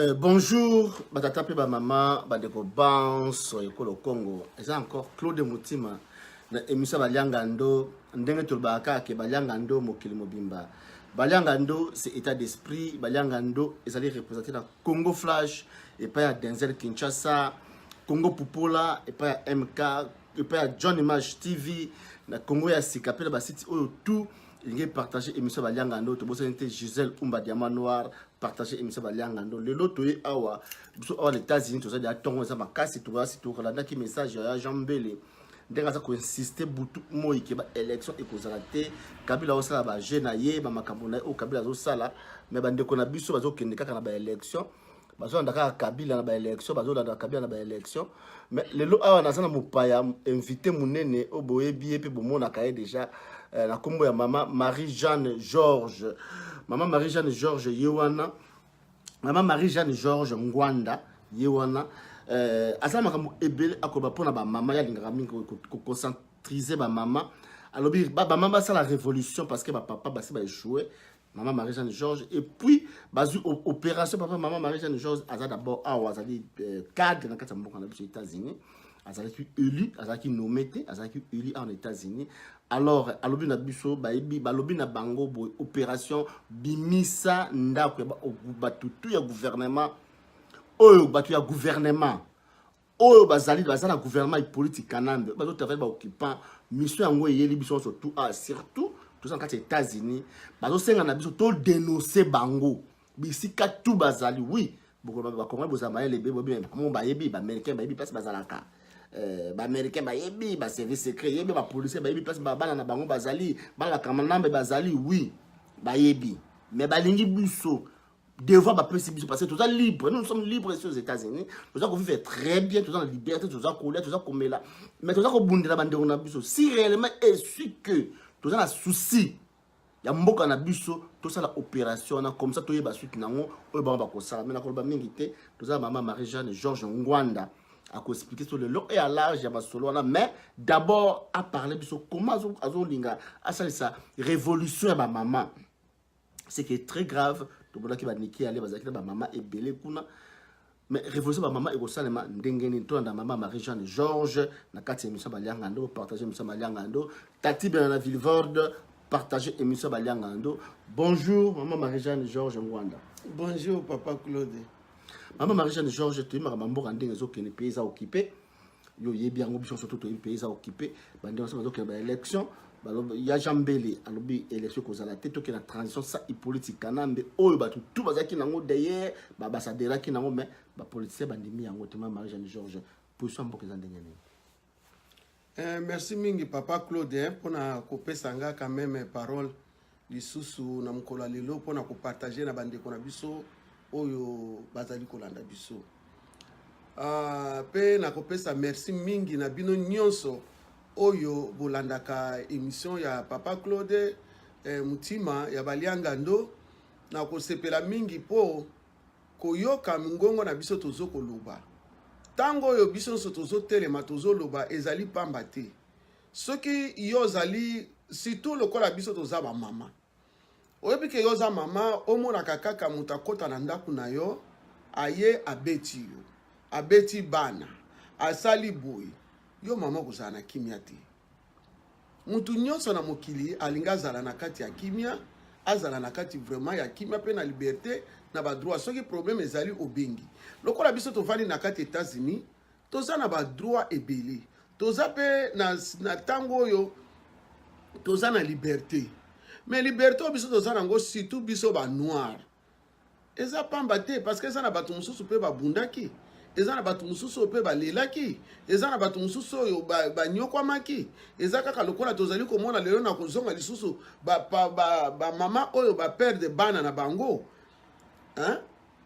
Euh, bonjour batata mpe bamama bandeko banso ekolo congo eza encore claude motima na émission balianga ndo ndenge tolobaka kaka ke balianga ndo mokili mobimba balianga ndo c'est état d'esprit balianga ndo ezali représente na congo flash epai ya denzel kinshasa congo pupola epai ya mk epai ya john image tv na congo ya sika mpe na basite oyo tout lingi partage émission balianga ndo tobosani te gisèle umba diamant noir partage émission balianga ndo lelo toye awa biso awa na états-unis toza deya ntongo eza makasi toasi tolandaki message ya jean mbele ndenge aza koinsiste butu moi ke baélection ekozala te kabila azosala baje na ye bamakambo na ye oyo kabila azosala me bandeko na biso bazokende kaka na baélection bazolanda kaka kabila na baélection bazolanda kabila na baélection mais lelo awa naza na mopaya invité monene oyo boyebi ye mpe bomonaka ye déjà eh, na nkombo ya mama marie jeanne george mama marie jeanne george ye wana mama marie jeanne george ngwanda ye wana eh, aza makambo ebele akoba mpo na bamama ye alingaka mingi koconcentrize bamama alobi bamama basala révolution parce que bapapa basi baechoue mama marie jeanne george et puis bazwi opération papa mama marie jeanne george aza d'abord awa azali euh, cadre na kati ya mboka na biso états-unis azalaki élu azalaki nommé te azalaki élu en états-unis alors alobi na biso bayebi balobi na bango boye opération bimisa ndako ya bato tu ya gouvernement oyo bato ya gouvernement oyo bazali baza na gouvernement ipolitique kanambe bazo travaille baoccupant mission yango eyeli biso nyonso tout a ah, surtout toza na kati ya états-unis bazosenga na biso todenonse bango bisika tu bazali wi bakongoli bozala mayele be bobimoo bayebi baaméricain bayebi place bazalaka euh, baaméricain bayebi baservice secret yebi bapolicier bayebi place bana na bango bazali bana bakambanambe bazali wi bayebi mais balingi biso devoir bapesi biso parce que toza libre nous sommes libre ici aux états-unis toza kovivre très bien toza na liberté toza kolia toza komela mais toza kobundela bandeko na biso si réellement esui que toza na souci ya mboka na biso tosala opération wana comme ça toyeba suki na yango oyo bango bakosala mai nakoloba mingi te toza na mama marie jeanne georges ngwanda akoexplike so lelo e alarge ya masolo wana mais d'abord aparle biso comment azolinga asalisa révolution ya bamama ce qui est très grave tomonaki baniki yale bazalaki na bamama ebele kuna mais révolution bamama ekosalema ndenge nini tolanda mama marie jeanne georges na kati ya émission balianga ndo partage émission balianga ndo tati bena na villevorde partage émission balianga ndo bonjour mama marie jeanne georges ngwanda bonjour papa claude mama marie jeanne georges toyimaka bamboka ndenge ezokende mpe eza okipe yo oyebi yango biso nyonso to toyebi mpe eza okipe bande nyonso bazokende ba élection ya jean mbele alobi élection ekozala te tokenda transition sa ipoliti kanambe oyo bato tu bazalaki nango deye babasaderaki nango mai bapolitisien bandimi yango te ma marie jeanne george position ya mboka eza ndenge nini Eh, merci mingi papa Claude eh, mpona kopesa nga quand même parole lisusu na mokolo ya lelo mpo na kopartage na bandeko na biso oyo bazali kolanda biso mpe ah, uh, nakopesa merci mingi na bino nyonso oyo bolandaka emission ya papa claude eh, motima ya baliangando nakosepela mingi mpo koyoka mongongo na biso tozo koloba ntango oyo biso nyonso tozotelema tozoloba ezali mpamba te soki yo ozali surtout lokola biso toza bamama oyebi ke yo oza mama omonaka kaka moto akota na ndako na yo aye abeti yo abeti bana asali boye yo mama okozala na kimia te moto nyonso na mokili alingi azala na kati ya kimia azala na kati vraiment ya kimia mpe na liberte na badroit soki problème ezali obengi lokola biso tovandi na kati etats-unis toza na ba droit ebele toza mpe na, na ntango oyo toza na liberte mais liberte oyo biso toza nango surtout biso ba noir eza pamba te parce que eza na bato mosusu mpe babundaki eza na bato mosusu oyo mpe balelaki eza na bato mosusu oyo banyokwamaki eza kaka lokola tozali komona lelo na kozonga lisusu bamama ba, ba, ba oyo baperde bana na bango hein?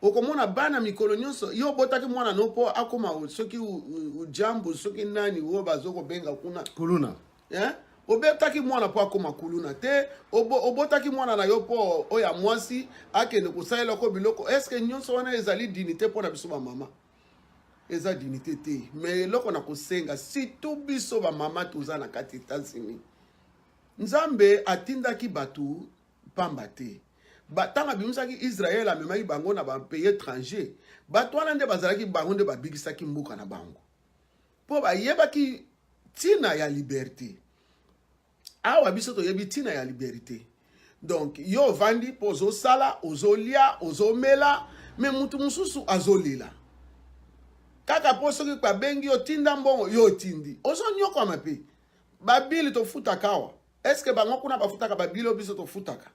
okomona bana mikolo nyonso yo obotaki mwana no mpo akoma soki ujambu soki nani oyo bazokobenga kuna kuluna eh? obetaki mwana mpo akoma kuluna te obotaki mwana na yo mpo oyo ya mwasi akende kosalelako biloko estce nyonso wana ezali dinite mpo na biso bamama eza dinite te me eloko na kosenga surtout biso bamama toza na kati etats-unis nzambe atindaki bato mpamba te ntango abimisaki israele amemaki bango na bapays étranger bato wana nde bazalaki bango nde babikisaki mboka na bango mpo bayebaki ntina ya liberte awa biso toyebi ntina ya liberté donc yo ovandi mpo ozosala ozolia ozomela me motu mosusu azolela kaka mpo soki babengi yo tinda mbongo yo otindi ozonyokwama mpe babili tofutaka awa est ce que bango kuna bafutaka babila oyo biso tofutaka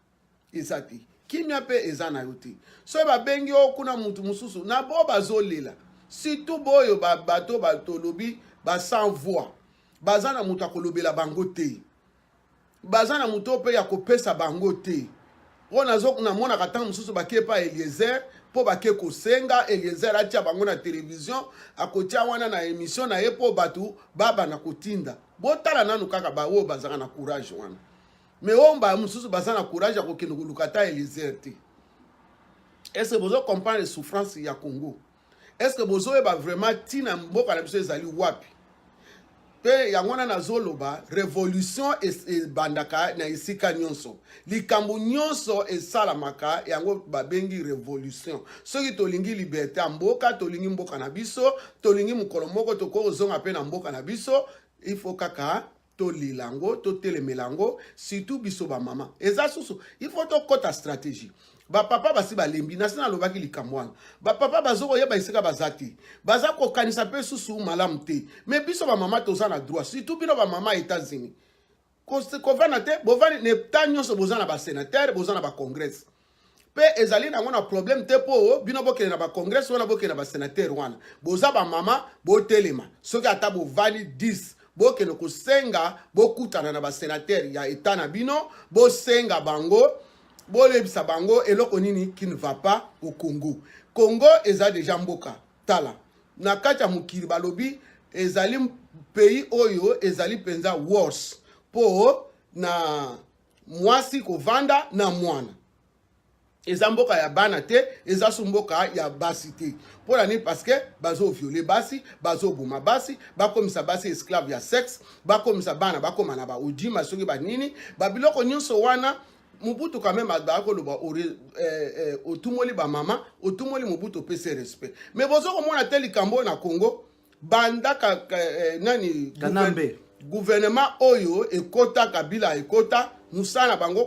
eza te kimia mpe eza na yo te soki babengi yo kuna motu mosusu na bo bazolela surtout boyo bato batolobi ba sans voix baza na moto akolobela bango te baza na moto mpe ya kopesa bango te oyo nazo namonaka ntango mosusu bake epa eliezer mpo bake kosenga eliezer atya bango na televizio akotya wana na emission na ye mpo bato babana kotinda botala nanu kaka baoyo bazalaka na courage wana me oyo mbala mosusu baza na courage ya kokende koluka ata eliezer te ese bozo comprendre souffrance ya congo Est-ce que bozoyeba vraiment tina mboka na biso ezali wapi? mpe yango wana nazoloba revolution ebandaka na esika nyonso likambo nyonso esalamaka yango babengi revolution soki tolingi liberte ya mboka tolingi mboka na biso tolingi mokolo moko tokoki kozonga mpe na mboka na biso ifo kaka tolela yango totelemela yango surtout biso bamama eza susu il faut tokɔta stratégie bapapa basi balembi nasi nalobaki likambo wana bapapa bazo koyeba esika baza te baza kokanisa mpe susu malamu te me biso bamama toza na droit surtout bino bamama ya états-unis kovanda te bovandi na eta nyonso boza na basénateur boza na bacongrès mpe ezali nango na problème te mpo bino bokende na bacongrès wana bokende na basenateur wana boza bamama botelema soki ata bovandi 10 bokende kosenga bokutana na basenateur ya etat na bino bosenga bango bolebisa bango eloko nini qui ne va pas au congo congo eza deja mboka tala na kati ya mokili balobi ezali pays oyo ezali mpenza worse mpo na mwasi kovanda na mwana eza mboka ya bana te eza su mboka ya basi te mpo na nini parceke bazoviole basi bazoboma basi bakomisa basi esclave ya sexe bakomisa bana bakoma na baudima soki banini babiloko nyonso wana mobutu quand même azalaki koloba eh, eh, otumoli bamama otumoli mobutu opesi respect mais bozo komona te likambo oyo na congo banda ka, ka, eh, nani kanambe gouvernement oyo ekota kabila ekota mosala na bango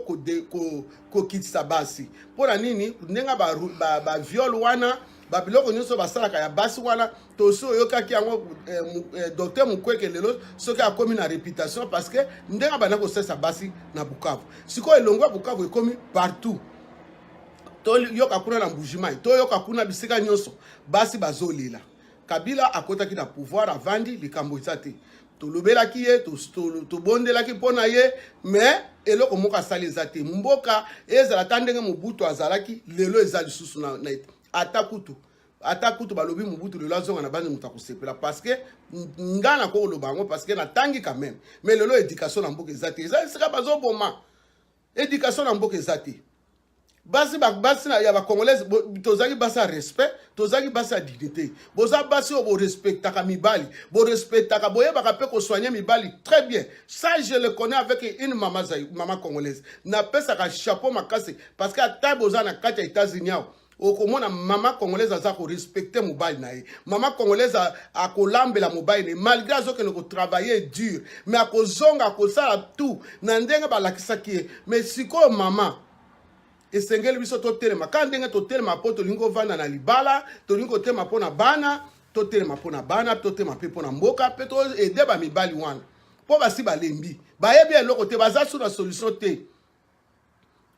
kokitisa ko, ko basi mpo na nini ndenge baviole ba, ba wana babiloko nyonso basalaka ya basi wana tosi oyokaki yango eh, eh, docteur mukweke lelo soki akomi na réputation parce que ndenge abanda kosalisa basi na bukavu sikoyo elongo ya bukavu ekomi partout toyoka kuna na mbujimai toyoka kuna bisika nyonso basi bazolela Kabila akotaki na pouvoir avandi likambo eza te tolobelaki ye tobondelaki mpo na ye mais eloko moko asali eza te mboka ezala ata ndenge mobutu azalaki lelo eza lisusu na, na ata kutu ata kutu balobi mobutu lelo azonga na bandi moto akosepela parceke nga nakokoloba yango parceke natangi quand même mais lelo éducation na mboka eza te eza esika bazoboma Education na mboka eza te. basi basi ya bacongolaise tozalaki basi ya respect tozalaki basi ya dignité boza basi oyo borespectaka mibali borespectaka boyebaka mpe kosoigne mibali très bien ça je le connais avec une mama, mama congolaise napesaka chapeau makasi parce que ata boza na kati ya états-unis awa okomona mama congolaise aza korespecte mobali na ye mama congolaise akolambela mobali na ye malgré azokende kotravaille dur me akozonga akosala tout na ndenge balakisaki ye me sikoyo mama esengeli biso totelema kaka ndenge totelema mpo tolingi kovanda na libala tolingi kotelema mpo na bana totelema mpo na bana totelema mpe mpo na mboka mpe toede bamibali wana mpo basi balembi bayebi eloko te baza su na solution te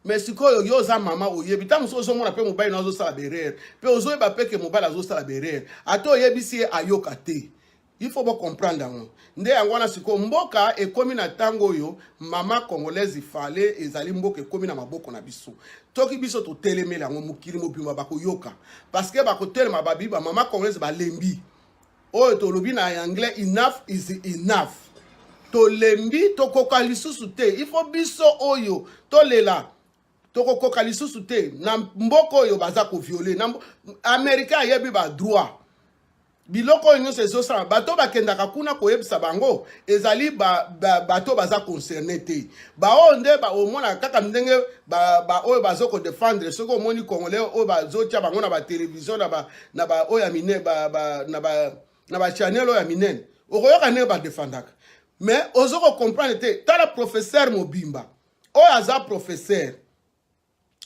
mais sikoyo yo oza mama oyebi ntango mosusu ozomona mpe mobali na azosala berere mpe ozoyeba mpe ke mobali azosala berere ata oyebisi ye ayoka te il faut bocomprendre yango nde yango wana sikoyo mboka ekomi na ntango oyo mama congolaise fale ezali mboka ekomi na maboko na biso toki biso totelemeli yango mokili mobima bakoyoka parceke bakotelema babi bamama congolaise balembi oyo tolobi na anglais enough is enough tolembi tokoka lisusu te ifo biso oyo tolela tokokoka lisusu te na mboka oyo baza koviole americain ayebi badroit biloko oyo nyonso ezosala bato bakendaka kuna koyebisa bango ezali bato ba, ba, baza concerne te baoyo nde omonaka kaka ndenge baoyo ba, ba, bazo kodefendre soki omoni congolais oyo bazotya bango na batelevizio na ba na ba oyo ya minene ba, ba, na ba, na ba channel oyo ya minene okoyoka ndenge badefandaka mais ozo kocomprendre te tala professeur mobimba oyo aza professeur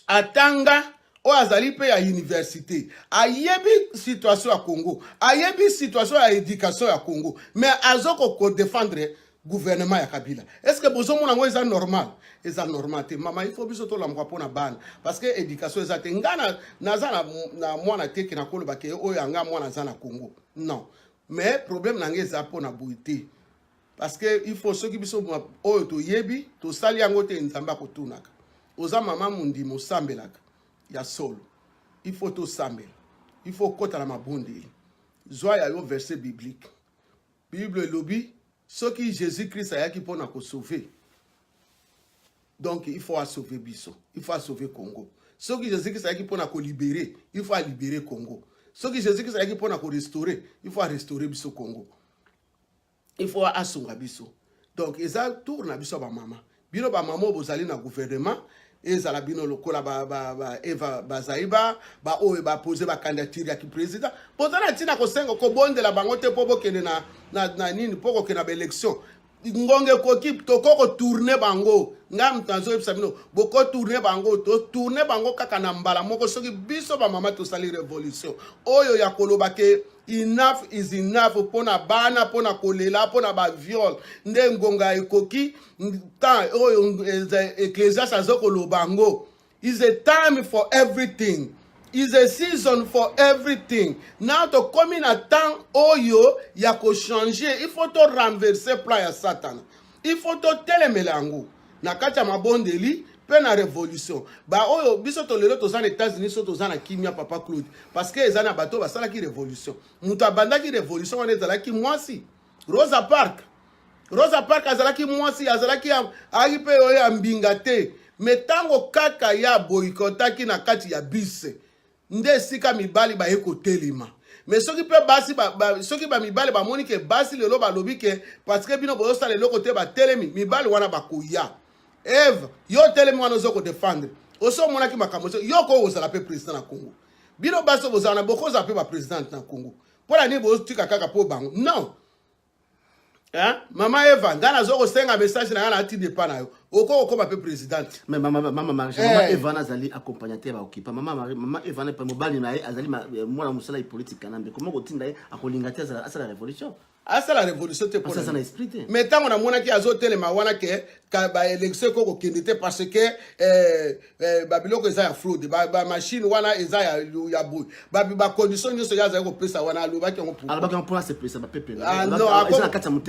atanga oyo azali mpe ya université ayebi situation ya congo ayebi situation ya éducation ya congo mais azo kodefendre gouvernement ya kabila est ce que bozomona yango eza normal eza normal te mama ifo biso tolamuka mpo na bana parce que éducation eza te nga naza na, na mwana te ke nakoloba ke oyo anga mwana aza na congo non mais problème na ngai eza mpo na boye te parce que il faut soki biso oyo toyebi tosali yango te nzambe akotunaka oza mama mondimi osambelaka ya solo il faut tosambela il faut okota na mabondeli zwa ya yo verset biblique Bible elobi soki Jesus Christ ayaki pona ko sauver donc il faut a sauver biso, il faut a sauver Congo. Soki Jesus Christ ayaki pona ko libérer, il faut a libérer Congo. Soki Jesus Christ ayaki pona ko restaurer, il faut a restaurer biso Congo. Il faut a sunga biso. Donc eza tour na biso ba mama. bino bamama oyo bozali na guvernema ezala bino lokola ba, ba, ba eva bazaiba baoyo bapose bakandiature ya kipresident boza na ntina kosenga kobondela bango te mpo bokende na, na, na nini mpo kokende na baelection ngonga ekoki tokoki kotourne bango ngai moto nazoyebisa bino bokotourne bango totourne bango kaka na mbala moko soki biso bamama tosali revolution oyo ya koloba ke enough is enough mpo na bana mpo na kolela mpo na baviole nde ngonga ekoki temps oyo oh, eh, ecclesias aza koloba yango is a time for everything is a season for everything na tokomi na temps oyo ya kochange il faut to renverse plan ya satana il faut totelemela yango na kati ya mabondeli mpe na révolution baoyo biso to lelo toza na états-unis so toza na kimia papa claude parce que eza na bato basalaki révolution moto abandaki révolution wana ezalaki mwasi Rosa Park Rosa Park azalaki mwasi azalaki ayaki mpe oyo ya mbinga te me ntango kaka ya boyikotaki na kati ya bise nde esika mibali baye kotelema me soki mpe basi ba, ba, soki bamibali bamoni ke basi lelo balobi ke parceke bino bozosala eloko te batelemi mibali wana bakoya eve yo otelemi wana ozo kodefendre osi omonaki makambo yo okoki kozala mpe president na congo bino basi bozala na bokozala mpe bapresidente na congo mpo na nini botika kaka mpo bango non Eh? mama eva ngai nazo kosenga message na ngai na tide epa na yo okoki kokoma mpe présidente mais mama mama marge mama Eh. eva nazali accompagnateur ya okipa mama Marie- mama eva na mobali na ye azali ma- eh, mwana mosala ya politique kanambe koma kotinda ye akolinga te azala- asala révolution asala révolution te mpo Parce na aza na ye. esprit te. mais ntango namonaki azotelema wana ke baélection ekoki kokende te parce que eh, eh, babiloko eza ya fraude bamachine wana eza ya boye bacondition nyonso ye azali kopesa wana alobaki yango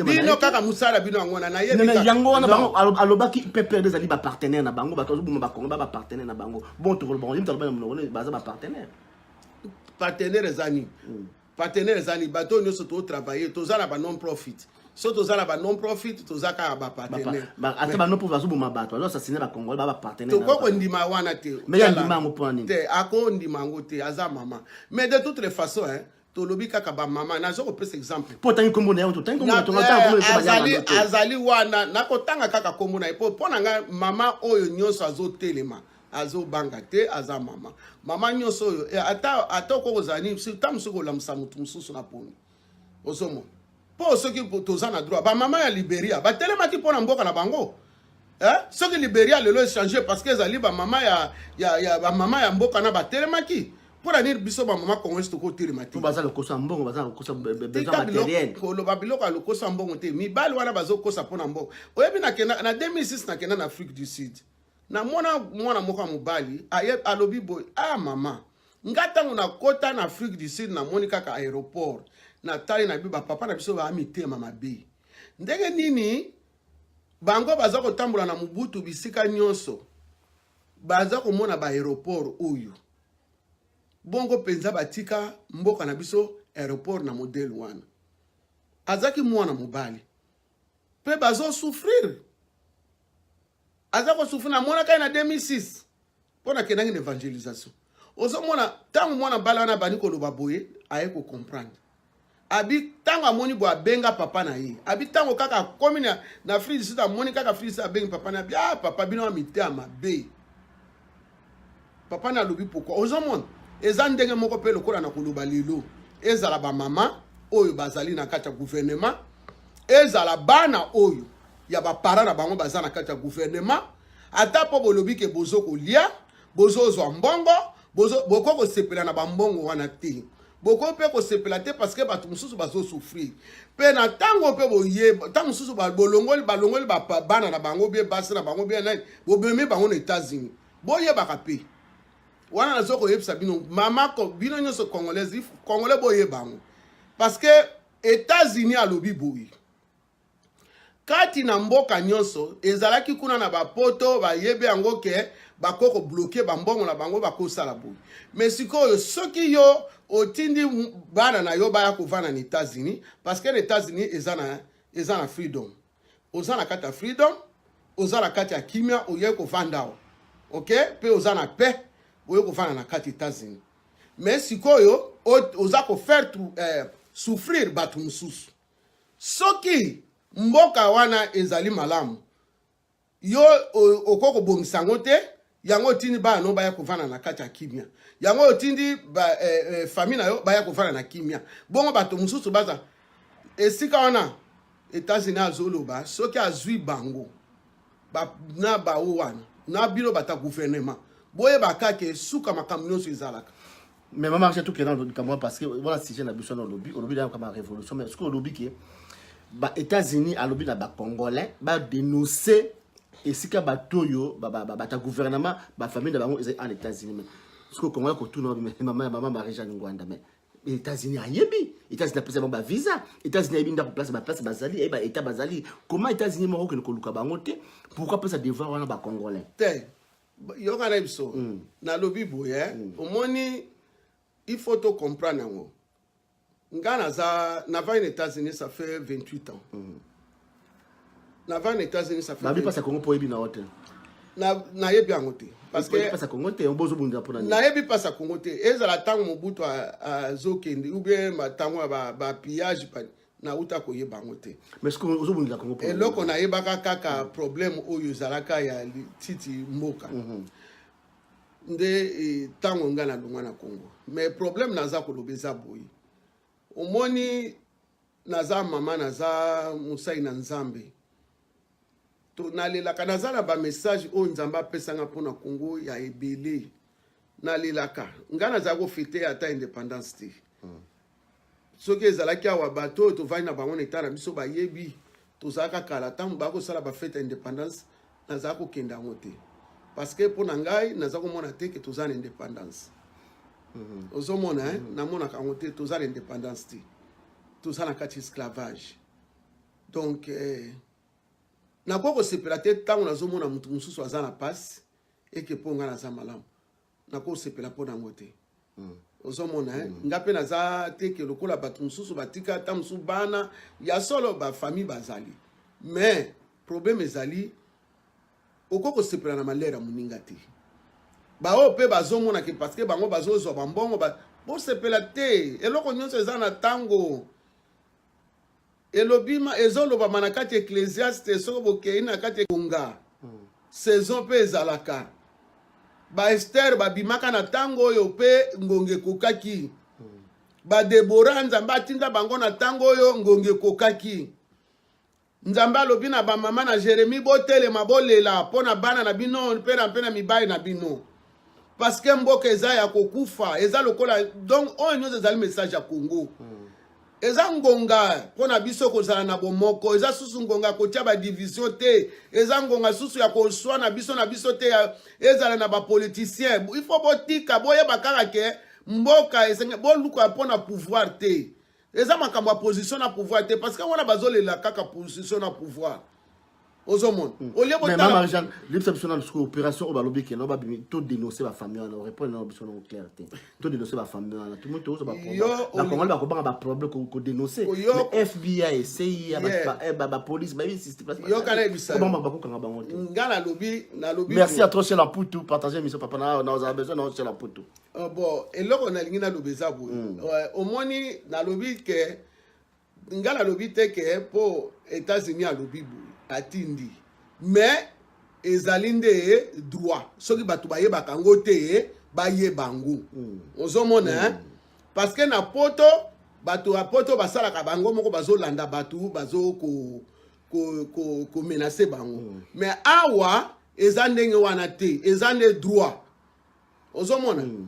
bino kaka mosala bino yango wana nayebiyango wana alobaki pepele ezali bapartenaire na bango bato bazoboma bakongo ba bapartenaire na bango bon tokoloba baza bapartenaire partenaire eza nini hmm. Partenaire ezali bato oyo nyonso to travailler toza na ba non profit so toza na ba non profit toza kaka ba partenaire ata ba non profit azoboma bato azo assassiner ba congolais ba ba partenaire tokoki kondima wana te mais ya ndima yango mpo nini te akondima yango te aza mama mais de toutes les façons hein tolobi kaka bamama naza kopesa exemple mpo otangi nkombo na ye otangi nkomboazali wana nakotanga kaka nkombo na ye mpo mpo na ngai mama oyo nyonso azotelema azobanga te aza mama mama nyonso oyo eh, ata ata okoki kozala nini ta mosuki olamusa motu mosusu na poni ozomona mpo soki toza na droit bamama ya liberia batelemaki mpo na mboka na bango eh? soki liberia lelo echange parce que ezali bamama ya, ya, ya, bamama ya mboka na batelemaki mpo na nini biso bamama congolais tokotelema te baza lokosa mbongo baza lokosa besoin matériel koloba biloko ya lokosa mbongo te mibali wana bazokosa mpo na mbongo oyebi na 2006 nakenda na afrique du sud namona mwana moko ya mobali alobi boye a ah, mama nga ntango nakota na afrique du sud namoni kaka aéroport natali na biso bapapa na biso baa mitema mabe ndenge nini bango baza kotambola na mobutu bisika nyonso baza komona baaéroport oyo bongo mpenza batika mboka na biso aéroport na modele wana azalaki mwana mobali mpe bazosouffrire aza ko souffrir na mona kai na 2006 mpo nakendaki na évangélisation ozomona ntango mwana bala wana abandi koloba boye aye kocomprendre abi ntango amoni boye abenga papa na ye abi ntango kaka akomi na, na fride sud amoni kaka fride sud abengi papa na abi ah papa bino ya miteya mabe papa nalobi pourkoi ozomona eza ndenge moko mpe lokola na koloba lelo ezala bamama oyo bazali na kati ya guvernema ezala bana oyo ya bapara na bango baza na kati ya guvernema ata mpo bolobi ke bozo kolia bozozwa mbongo bokoki kosepela na bambongo wana te bokoki mpe kosepela te parceke bato mosusu bazosouffrir mpe na ntango mpe boye ntango mosusu bolongoli balongoli bana na bango bie basi na bango bie nani bobemi bango na états-unis boyebaka mpe wana nazo koyebisa bino mama bino nyonso congolaise congolais boyeba yango parce que états-unis alobi boye kati na mboka nyonso ezalaki kuna na bapoto bayebi yango ke bako kobloke bambongo na bango bakosala boye me sikoyo soki yo otindi bana na yo baya kovanda na etats-unis parce que na etats-unis eza na, eza na freedom oza na kati ya freedom oza na kati ya kimia oye kovanda awa ok mpe oza na paix oye kovanda na kati etats-unis me sikoyo oza kofaire eh, souffrir bato mosusu Soki mboka wana ezali malamu, yo okoki kobongisa yango te, yango otindi bana no baya kovanda na kati ya kimia, yango otindi ba, eh, eh, famille na yo baya kovanda na kimia, bongo bato mosusu baza esika wana. Etats-Unis azoloba soki azwi bango ba, na bawo wana na bino bata gouvernement boyebaka ke suka makambo nyonso ezalaka mais mama acha tout kena olobi kamwa parce que wana sujet na biso na olobi olobi na kama révolution mais soki olobi ke ba états-unis alobi na bacongolais badénonce esika bato oyo bata gouvernement bafamille na bango ezali en états-unis mais soki okongolais kotuna mama ya mama marie jeanne ngwanda mais états-unis ayebi états-unis apesa bango bavisa états-unis ayebi ndako place baplace bazali ayebi baétat bazali comment états-unis moko okende koluka bango te pourquoi apesa devoir wana bacongolais te yoka na biso mm. nalobi boye eh? mm. omoni il faut to comprendre yango nga naza navai na états-unis ça fait 28 ans mm. navai na états-unis ça fait babi pasa kongo mpo oyebi na yo te nayebi yango te nayebi pasa kongo te ezala ntango mobutu azokende ou bien ntango ya bapillage nauta koyeba yango te eloko nayebaka kaka problème oyo ezalaka ya titi mboka mm -hmm. nde ntango e, ngai nalongwa na congo mais problème naza koloba eza boye omoni naza mama naza mosali na nzambe nalelaka naza na bamessage oyo nzambe apesanga mpo na congo ya ebele nalelaka ngai nazala kofete ata indépendance te hmm. soki ezalaki awa bato oyo tovandi na bango na etat na biso bayebi tozalaka kala ntango baya kosala bafete ya indépendance nazala kokenda yango te parce que mpo na ngai naza komona te ke toza na indépendance hmm. ozomona hmm. namonaka yango te toza na indépendance te toza na kati esclavage donc eh, nakoki kosepela te ntango nazomona moto mosusu aza na mpasi eke mpo ngai naza malamu nakoki kosepela mpo na yango te mm. ozomona eh? mm. nga mpe naza te ke lokola bato mosusu batika ata mosusu bana ya solo bafamille bazali mais problème ezali okoki kosepela na malere ya moninga te baoyo mpe bazomonake parceke bango bazozwa bambongo ba... bosepela te eloko nyonso eza na ntango Elobima ezolobama na kati Ecclesiaste soko bokei na kati ekonga hmm. saison mpe ezalaka ba Esther babimaka na ntango oyo mpe ngonga ekokaki hmm. ba Deborah nzambe atinda bango na ntango oyo ngonga ekokaki Nzambe alobi na bamama na Jeremie, botelema bolela mpo na bana na bino mpe na mpe na mibali na bino parceke mboka eza ya kokufa eza lokola donc oyo nyonso ezali message ya congo hmm. eza ngonga mpo na biso kozala na bomoko eza susu ngonga ya kotya badivisio te eza ngonga susu ya koswana biso na biso te ezala na bapoliticien ifo botika boyeba kaka ke mboka esenge boluka mpo na pouvoir te eza makambo ya position na pouvoir te parce que wana bazolela kaka position na pouvoir ozomona hmm. olie botalamarijane libisa biso na lisuku opération oyo balobi kena babimi to dénonce bafamille wana orépondre nano biso nango claire te to dénonce bafamille wana tomo tokozwa bakongoli bakobanga baproblème kodénonce fbi cia bapolice bayoka nayebisabanga bakokanga bango te nga nalobi nalobi merci à trop chez la putu partage émission papa na ozala besoin nao chez la putu Uh, bon eloko nalingi naloba eza boye mm. uh, omoni nalobi ke nga nalobi te ke mpo états-unis alobi boye atindi mais ezali nde droit soki bato bayebaka yango te bayeba yango mm. ozomona mm. parce que na poto bato ya poto basalaka bango moko bazolanda bato bazo ko, ko, ko, ko menace bango mm. mais awa eza ndenge wana te eza nde droit ozomona hmm.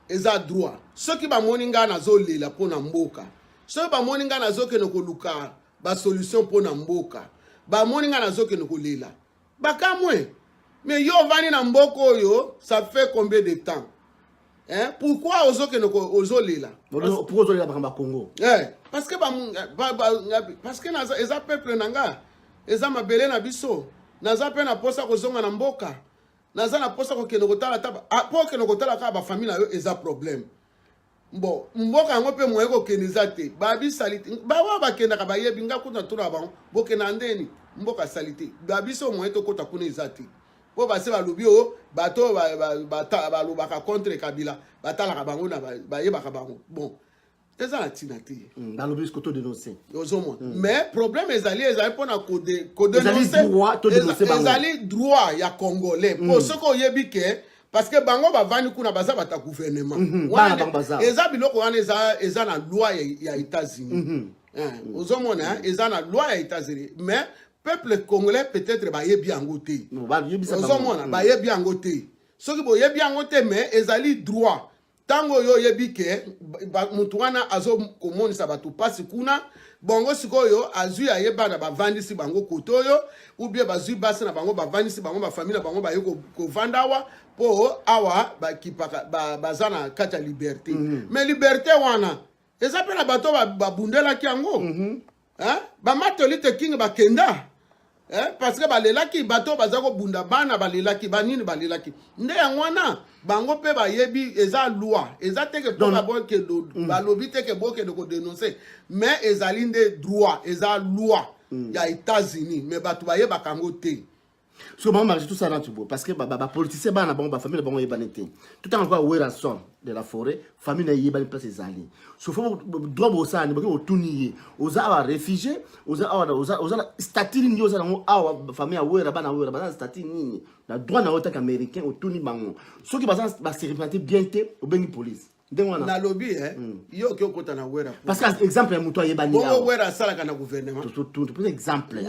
eza droit soki bamoni ngai nazolela mpo na mboka soki bamoni ngai nazokende koluka basolution mpo na mboka bamoni ngai nazokende kolela bakamwe me yo ovandi na mboka oyo ça fait combien de temps eh? pourquoi ozokende ozolela pourquoi ozolela makambo ya congo eh, parce que parce que eza peuple na nga eza mabele na biso naza mpe na mposa kozonga na mboka naza na posa kokende kotala ta ah, po okende kotala kaka bafamille na yo eza problème bon mboka yango mpe moye kokende eza te babisalite bawa bakendaka bayebi nga kutu natuna bango bokenda ndeni mboka salite babiso moye tokota kuna eza te mpo base balobi oyo oh, bato oyo balobaka contre kabila batalaka bango na bayebaka bango bon eza na ntina te hmm, balobi ko todenonce ozomona hmm. mais problème ezali ezali mpona kodenonceezali droit ya congolais mpo hmm. soki oyebi ke parce que bango bavandi kuna baza bata gouvernement mhm, eza biloko wana eza na loi ya états-unis mhm. eh, ozomona eza na loi ya états-unis mais peuple congolais peut-être bayebi yango te ozomona bayebi yango te soki boyebi yango te mais ezali droit ntango oyo oyebi ke motu wana azokomonisa bato mpasi kuna bongo sikoyo azwi aye bana bavandisi bango kote oyo ubie bazwi basi na bango bavandisi bango bafamili na bango baye kovanda awa mpo awa bakipaka baza na kati ya liberte mm -hmm. me liberte wana eza mpe na bato babundelaki yango mm -hmm. eh? bamatoli te king bakenda eh? parce que balelaki bato baza kobunda bana balelaki banini balelaki nde yango wana bango mpe bayebi eza loi eza teke mpona bokende mm. balobi teke bokende kodenonse mais ezali nde droit eza loi mm. ya états-unis mais bato bayebaka yango te soki bango marché tosala natu boye parce que bapoliticien bana na bango bafamille na bango eyebani te totanga lokola werrason de la forêt famille na eyebani place ezali sofo droit bosala nde boke botuni ye oza awa réfugié oza awa oza na statut nini yo oza nango awa famille ya wera bana wera baza na statut nini na droit na yo tanke américain otuni bango soki baza baserepena te bien te obengi police ndenge wana nalobi eh, mm. yo oke okota na wera parce que exemple ya moto ayebani bongo wera asalaka na gouvernement toza exemple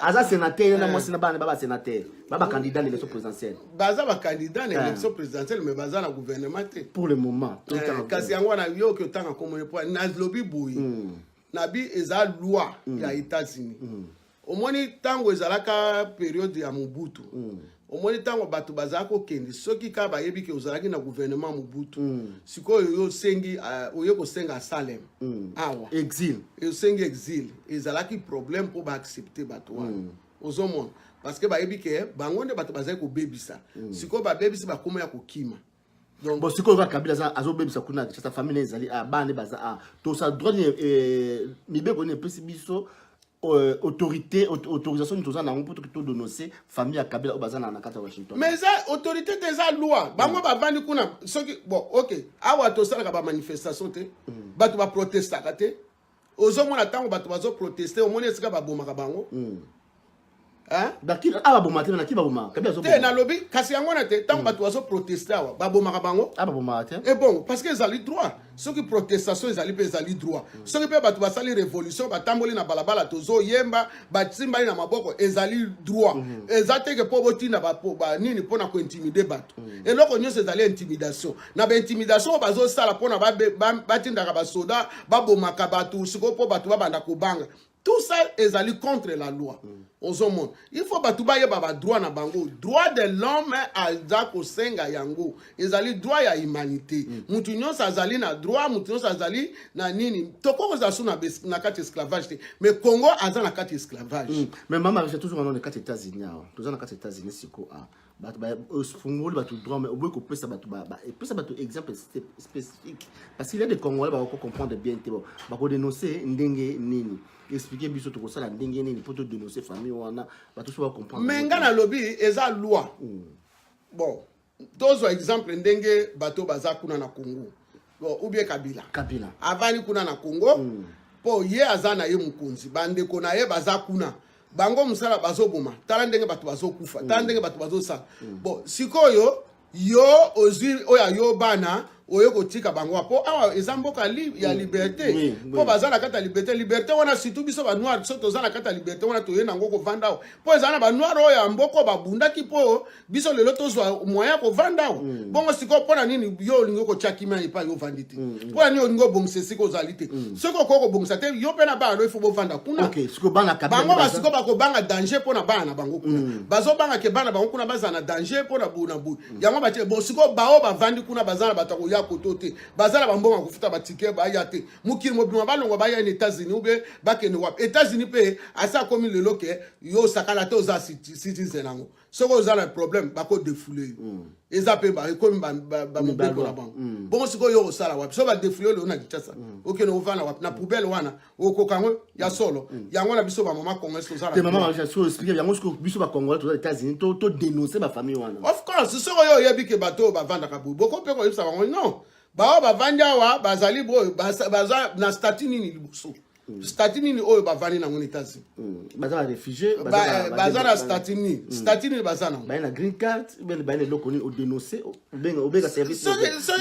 aza sénateur ye na eh. mwasi na bana baba sénateur baba candidat na élection présidentielle baza bacandidat na eh. élection présidentielle mais baza na gouvernement te pour le moment eh, kasi yango wana yo oke otanga komone po nalobi boye hmm. nabi eza loi hmm. ya états-unis hmm. omoni ntango ezalaka periode ya mobutu mm. omoni ntango bato bazalaki kokende soki kaka bayebi ke ozalaki na gouvernement ya mobutu mm. sikoyo yo osengi uh, oye kosenga asalem mm. awa exil osengi exil ezalaki problème mpo baaccepte bato wana mm. ozomona parce que bayebi ke bango nde bato bazali kobebisa mm. sikoyo babebisi bakoma ya kokima donc bon sikoyo kaka kabila aza azobebisa kuna kinshasa famille ne ezali a bana nde baza a tosa droit nini eh, mibeko nini epesi biso euh, autorité autorisation nini toza na yango mpo toki todonose famille ya kabila oyo baza na kati ya washington mais eza autorité te eza loi bango mm. bavandi kuna soki bon ok awa tosalaka bamanifestation te mm. bato baprotestaka te ozomona ntango bato bazoproteste omoni esika babomaka bango hmm. te nalobi kasi yango wana te ntango hmm. bato bazoproteste awa babomaka bango e bongo parce que ezali droit soki protestation ezali mpe ezali droit hmm. soki mpe bato basali révolution batamboli na balabala tozoyemba basimbani na maboko ezali droit eza teke mpo botinda banini mpo na kointimide bato eloko nyonso ezali intimidation na baintimidation oyo bazosala mpona batindaka basoda babomaka bato sikoyo mpo bato babanda kobanga tout ça ezali contre la loi mm. ozomona il faut bato bayeba badroit na bango droit de l'homme aza kosenga yango ezali droit ya humanité mm. moto nyonso azali na droit moto nyonso azali na nini tokoki kozala su na kati esclavage te mais congo aza na kati esclavage mm. mais mama je toujours anone kati états-unis awa toza na kati états-unis siko awa bato ofungoli bato droit mais oboyi kopesa bato epesa bato exemple spécifique parce qu'il y a des congolais bakoko comprendre bien te bon bakodénonce ndenge nini explike biso tokosala ndenge nini mpo todénonce famille wana bato so bacomprendre mais ngai nalobi eza loi hmm. bon tozwa exemple ndenge bato baza kuna na congo bon, ou bien kabila kabila avandi kuna na congo mm. po ye aza na ye mokonzi bandeko na ye baza kuna bango mosala bazoboma tala ndenge bato bazokufa tala mm. ndenge bato bazosala mm. bon sikoyo yo ozwi oyo ayo bana oye kotika bango mpo awa eza mboka li, ya mm. liberté mpo oui, baza na kati ya liberté liberté wana surtout biso banoir biso toza na kati ya liberté wana toye nango kovanda awa mpo eza na banoir oyo ya mboko babundaki mpo biso lelo tozwa moyen ya kovanda awa mm. bongo sikoyo mpo na nini yo olingi okotya kimia epai yo ovandi te mm, mpo na nini olingi obongisa esika ozali te soki okoki kobongisa te yo mpe na bana no ifo bovanda kuna bango basikoyo bakobanga danger mpo na bana na bango kuna bazobanga ke bana bango kuna bazala na danger mpo na boye na boye yango batie bo sikoyo baoyo bavandi kuna baza na bato ya koya koto te baza na bambongo ya kofuta batike baya te mokili mobima balongwa baya na états-unis ube bakende wapi états-unis mpe asi akomi lelo ke yo osakala te oza citizen yango soki oza na problème bako defoule yo mm. eza mpe ekomi bamobeko na bango mm. bongo sikoyo yo osala wapi so badefoule yo leo na kinshasa mm. okende ovanda wapi na poubele wana okoka yango ya solo yango na biso bamama congolais tozalayango siko biso bacongolais toza états-unis to dénonce bafamille wana of course soki oyo oyebi ke bato oyo bavandaka boye boko mpe koyebisa bango non baoyo bavandi awa bazali boyo baza na statut nini liboso Mm. statut nini oyo bavandi nango na états-unis mm. baza ba réfugié eh, baza na statut nini mm. statut nini baza nango baye na green card bene baye na eloko nini odénonce obeka servicesoki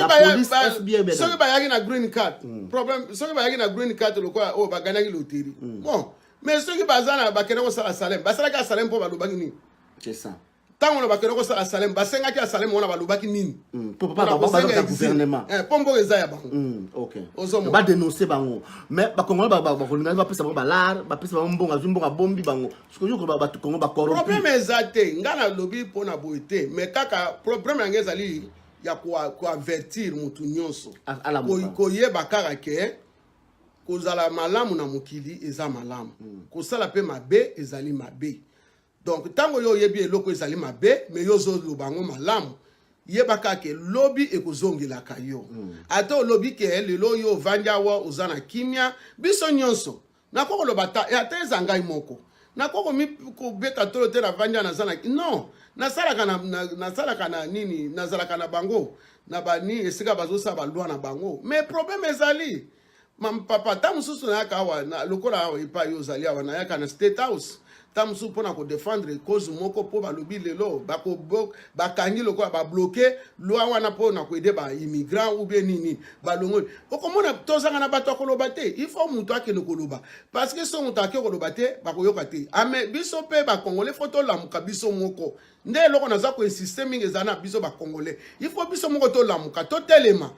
bayaki na green card problème soki bayaki na green card lokola oyo oh, baganaki loteri bon mais soki baza na bakende kosala salem basalaki asalem mpo balobaki nini c'est ça ntango na bakende kosala salem basengaki ya salem wana balobaki nini hmm, po eh, mboka eza ya bango hmm, badenonse bango mais bakongolai bakolingaki bapesa bango balare bapesa bango mbongo azwi mbongo abombi bango sikoyoko bato kongo baproblème eza te ngai nalobi mpo na boye te mais kaka problème yango ezali ya koavertir motu nyonso koyeba kaka ke kozala malamu na mokili eza malamu hmm. kosala mpe mabe ezali mabe donc ntango yo oyebi eloko ezali mabe me yo ozoloba yango malamu yeba kaka ke lobi ekozongelaka yo mm. ata olobi ke lelo oyo ovandi awa oza na kimia biso nyonso nakoki koloba ata eza ngai moko nakoki kobeta tolo te navandi awa naza na non nasalaka na, na, nasalaka na nini nazalaka na bango na bani esika bazosala balwa na bango mais problème ezali Mam papa, ntango mosusu nayaka awa na, lokola awa epai yo ozali awa, nayaka na State House ntango mosusu mpo na kodefendre cause moko mpo balobi lelo bakangi lokola babloke lwa wana mpo na koede baimmigrant ou bien nini balongoli okomona tozanga na bato ya koloba te il faut moto akende koloba parce que so moto ake koloba te bakoyoka te ame ah, biso mpe bakongole fo tolamuka biso moko nde eloko naza koinsiste mingi eza na biso bakongole il faut biso moko tolamuka totelema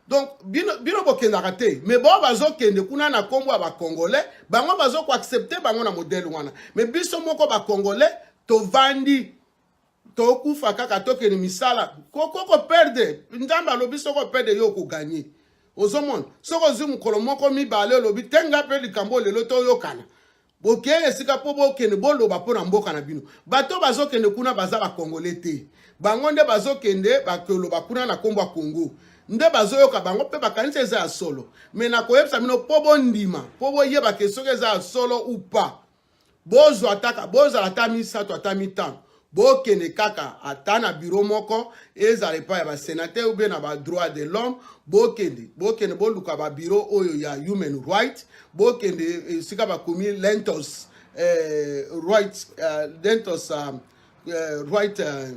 donc bino, bino bokendaka te me bao bazokende kuna na nkombo ya bacongolais bango bazokoaccepte bango na modele wana me biso moko bacongolais tovandi tokufa kaka tokende misala koko koperde nzambe alobi soko perde yo okoganye ozomona soki ozwi mokolo moko mibale olobi te nga mpe likambo lelo toyokana bokei esika mpo bokende boloba mpo na mboka na bino bato bazokende kuna baza bakongole te bango nde bazokende bakoloba kuna na nkombo ya kongo nde bazoyoka bango mpe bakanisi eza ya solo me nakoyebisa bino mpo bondima mpo boyeba ke soki eza ya solo upa bozwa ataka bozala ata misato ata mitano bokende kaka ata na biro moko ezala epai ya basenateur ou bien na badroit de l'homme bokende bokende boluka babiro oyo ya human right bokende eh, esika bakomi lentos eh, right uh, lentos uh, uh, right uh,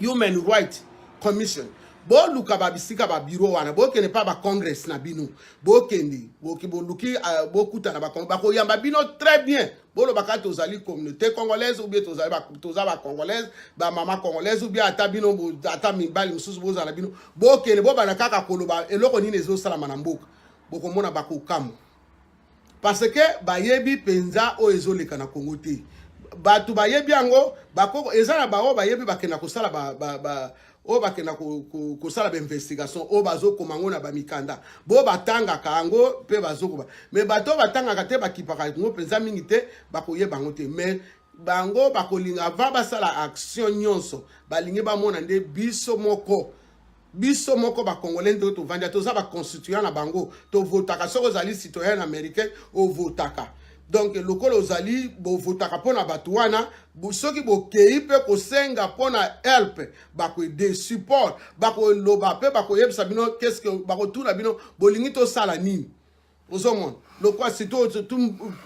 human right commission boluka babisika babiro wana bokende mpa bacongress na bino bokende boluki uh, bokutana bakoyamba bino très bien bolobaka tozali communauté congolaise ou bien tozali toza ba congolaise ba mama congolaise ou bien ata bino ata mibali mosusu bozala bino bokende bobanda kaka koloba eloko nini ezosalama na mboka bokomona bakokamwa parce que bayebi mpenza oyo ezoleka na congo te bato bayebi yango bakoko eza na baoyo bayebi bakenda kosala ba, ba, ba, oyo bakenda kosala bainvestigation oyo bazokoma yango na bamikanda bo batangaka yango mpe bazokoba me bato oyo batangaka te bakipaka yango mpenza mingi te bakoyeba yango te mais bango bakolinga va basala action nyonso balingi bamona nde biso moko biso moko bakongole nde tovandi toza baconstituant na bango tovotaka soki ozali citoyen américain ovotaka donc lokola ozali bovotaka mpo na bato wana soki bokei mpe kosenga mpo na help bakoede support bakoloba mpe bakoyebisa bino keske bakotuna bino bolingi tosala nini ozomona lokola surtout tu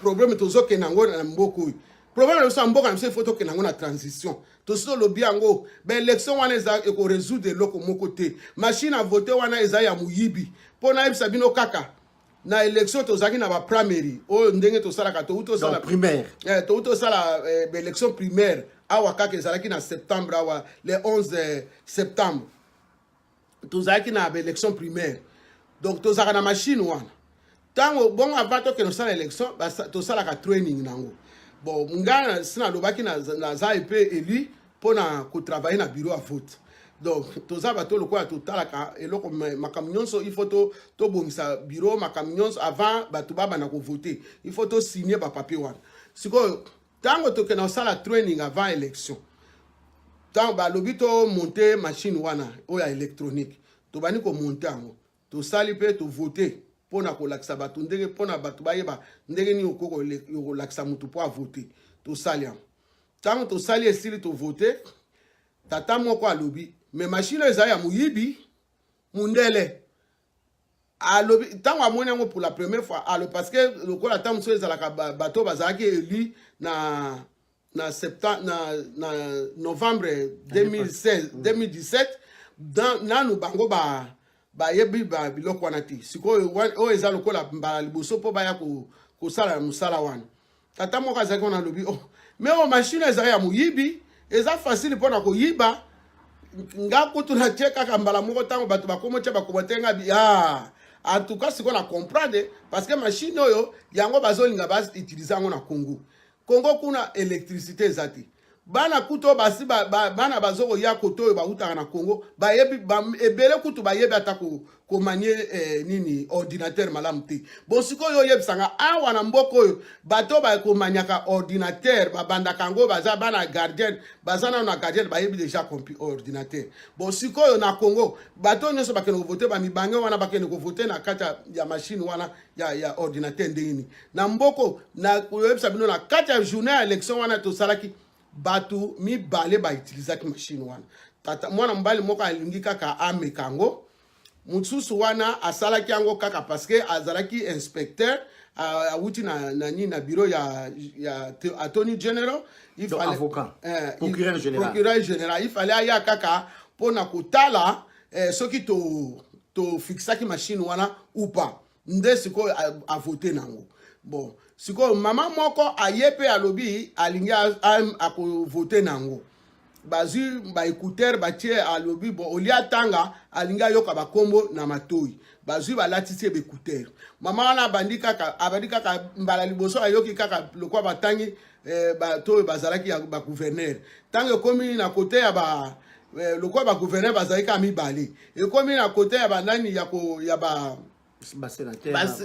problème tozokenda yango na mboka oyo problème na biso ya mboka na biso ifo tokenda yango na transition tosi tolobi yango baélection wana eza ekoresoudre eloko moko te machine a vote wana eza ya moyibi mpo nayebisa bino kaka na élection tozalaki na ba primary oyo ndenge tosalaka touti osala primaire eh, touti osala eh, baélection primaire awa kaka ezalaki na septembre awa le 11 eh, septembre tozalaki na baélection primaire donc tozalaka na machine wana ntango bongo avant tokende kosala élection tosalaka training nango bon ngai si nalobaki naza epe élu mpo na kotravaille na bureau ya vote donc toza bato lokola totalaka eloko makambo nyonso il faut tobongisa to bureau makambo nyonso avant bato babanda kovote il faut tosigne bapapier wana sikoyo ntango tokenda kosala training avant élection ntango balobi tomonte machine wana oyo ya électronique tobandi komonte yango tosali mpe tovote mpo na kolakisa bato ndenge mpo na bato bayeba ndenge nini okolakisa moto mpo avote tosali yango ntango tosali esili tovote tata moko alobi me mashine ezali ya moyibi mundele alobi ntango amoni yango pour la première fois alo parce que lokola ntango mosusu ezalaka bato bazalaki élu na na, septembre, na, na novembre 2016, 2017 mm. nanu bango ba bayebi ba biloko wana te sikoyo oyo eza lokola mbala liboso mpo baya kosala mosala wana tata moko azalaki wana alobi oh, me oyo mashine ezali ya moyibi eza fasile mpo na koyiba nga kutu natie kaka mbala moko ntango bato bakomi otya bakomate nga bi ah, en tout cas sikoyo na comprendre parce que mashine oyo yango bazolinga bautilize yango na congo Congo kuna electricité eza te. Bana kuto basi ba, ba, bana bazo koya koto oyo bautaka na Congo bayebi ba, ebele kutu bayebi ata ko komanie eh, nini ordinateur malamu te. Bon sikoyo oyebisa nga awa na mboka oyo bato bakomaniaka ordinateur babandaka yango baza bana gardien baza nano na gardien bayebi deja kompi ordinateur. Bon sikoyo na Congo bato nyonso bakende kovote bamibange wana bakende kovote na kati ya mashine wana ya ya ordinateur ndenge nini na mboko na koyebisa bino na kati ya journée ya élection wana tosalaki bato mibale bautilisaki mashine wana tata mwana mobali moko alingi kaka ameka yango mosusu wana asalaki yango kaka parceke azalaki inspecteur awuti na, na nini na bureau ya, ya attorney general il fallait, avocat, eh, procureur, il, général. procureur général il fallait aya kaka mpo na kotala eh, soki to tofixaki machine wana ou pas nde sikoyo avote nango bon sikoyo mama moko aye mpe alobi alingi akovote nango bazwi baekutere batie alobi bon olie atanga alingi ayoka bakombo na matoi bazwi balatisi ye baekutere mama wana abandi kaka abandi kaka mbala liboso ayoki kaka lokwa batangi eh, bato oyo bazalaki ya bagouverneur ntango ekomi na kote ya ba eh, lokola bagouverneur bazali kaka mibale ekomi na kote ya banani ya, ko, ya ba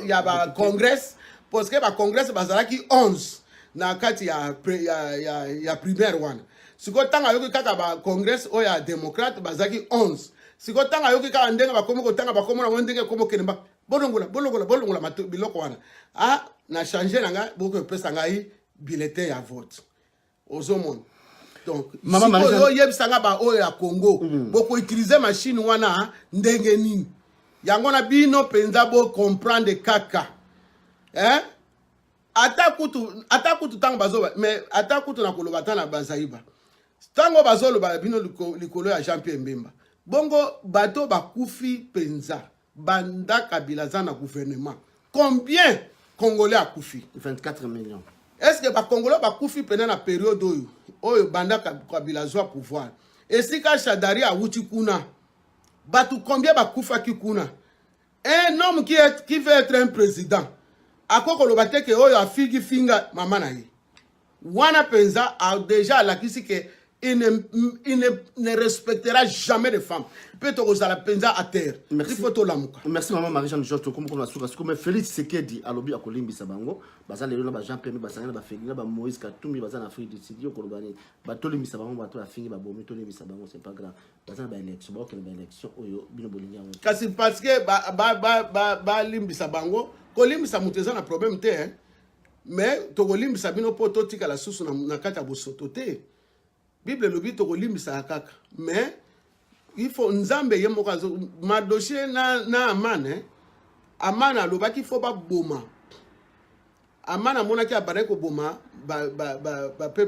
ya bacongress parceke bacongress bazalaki 11 na kati ya, ya, ya, ya primaire wana sikoyo ntango ayoki kaka bacongress oyo ya démocrate bazalaki 11 sikoyo ntango ayoki kaka ndenge bakomi kotanga bakomo na bango ndenge ekomi okende bolongola bolongola bolongola mato biloko wana ah na change na ngai bokoki kopesa ngai bulletin ya vote ozomona donc sikoyo oyebisa ngai baoyo ya congo mm. bokoutilize mashine wana ndenge nini yango na bino mpenza bocomprendre kaka eh? ata kutu ata kutu ntango bazoba mais ata kutu na koloba ata na bazaiba ntango bazoloba bino likolo ya jean pierre mbemba bongo bato bakufi mpenza Banda Kabila aza na gouvernement. Combien Congolais akufi? 24 millions. Est-ce que ba Congolais bakufi pena na periode oyo oyo banda Kabila azwa pouvoir? Esika Shadari awuti kuna. Batu combien bakufaki kuna? Un homme qui, est, qui veut être un président. Akokoloba te ke oyo afigi finga mama na ye. Wana penza a deja alakisi ke il ne, il ne, ne respectera jamais de femme mpe tokozala mpenza à terre il faut tolamuka merci maman marie jeanne george tokomi koma suka suka mais félix sekedi alobi akolimbisa bango baza lelo na bajean pembe basangani na bafeli na bamoïse katumbi baza na afrique du sud yo koloba nini batolimbisa bango bato bafingi babomi tolimbisa bango c'est pas grave baza na baélection baokende baélection oyo bino bolingi yango kasi parce que balimbisa bango kolimbisa moto eza na problème te hein? mais tokolimbisa bino mpo totikala susu na, na kati ya bosoto te bible elobi tokolimbisaka kaka mais il faut nzambe ye moko azo madoshe na, na amane eh? amane alobaki fo baboma amane amonaki abandaki koboma bapeuple ba, ba, ba, ba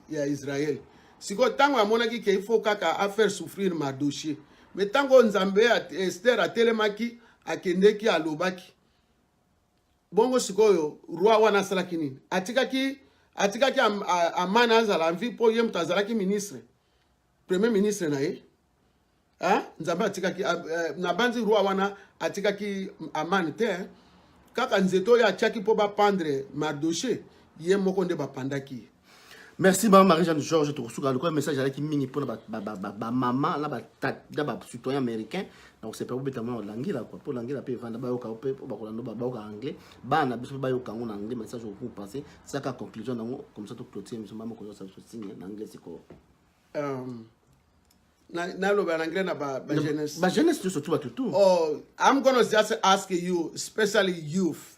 ya israel sikoyo ntango amonaki ke il faut kaka afaire souffrir madoshe me ntango nzambe ester atelemaki akendeki alobaki bongo sikoyo roi wana asalaki nini atikaki atikaki amana azala envi mpo ye moto azalaki ministre premier ministre na ye nzambe atikaki eh, nabanzi roi wana atikaki amane te eh. kaka nzete oyo atyaki mpo bapandre mardoche ye moko nde bapandaki ye merci mama marie jeanne george tokosuka lokola message alaki mingi mpona bamama na bacitoyen américain donc c'est pas obeta mwana olangila quoi mpo olangila mpe evanda bayoka mpe mpo bakolanda bayoka anglais bana biso mpe bayoka yango na anglais message okoku passe saka conclusion na yango comme ça toclotire biso mama koyosa biso signe na anglais sikoyo um, naloba na anglais na bajeunesse bajeunesse nyonso tu batutu oh i'm gonna just ask you especially youth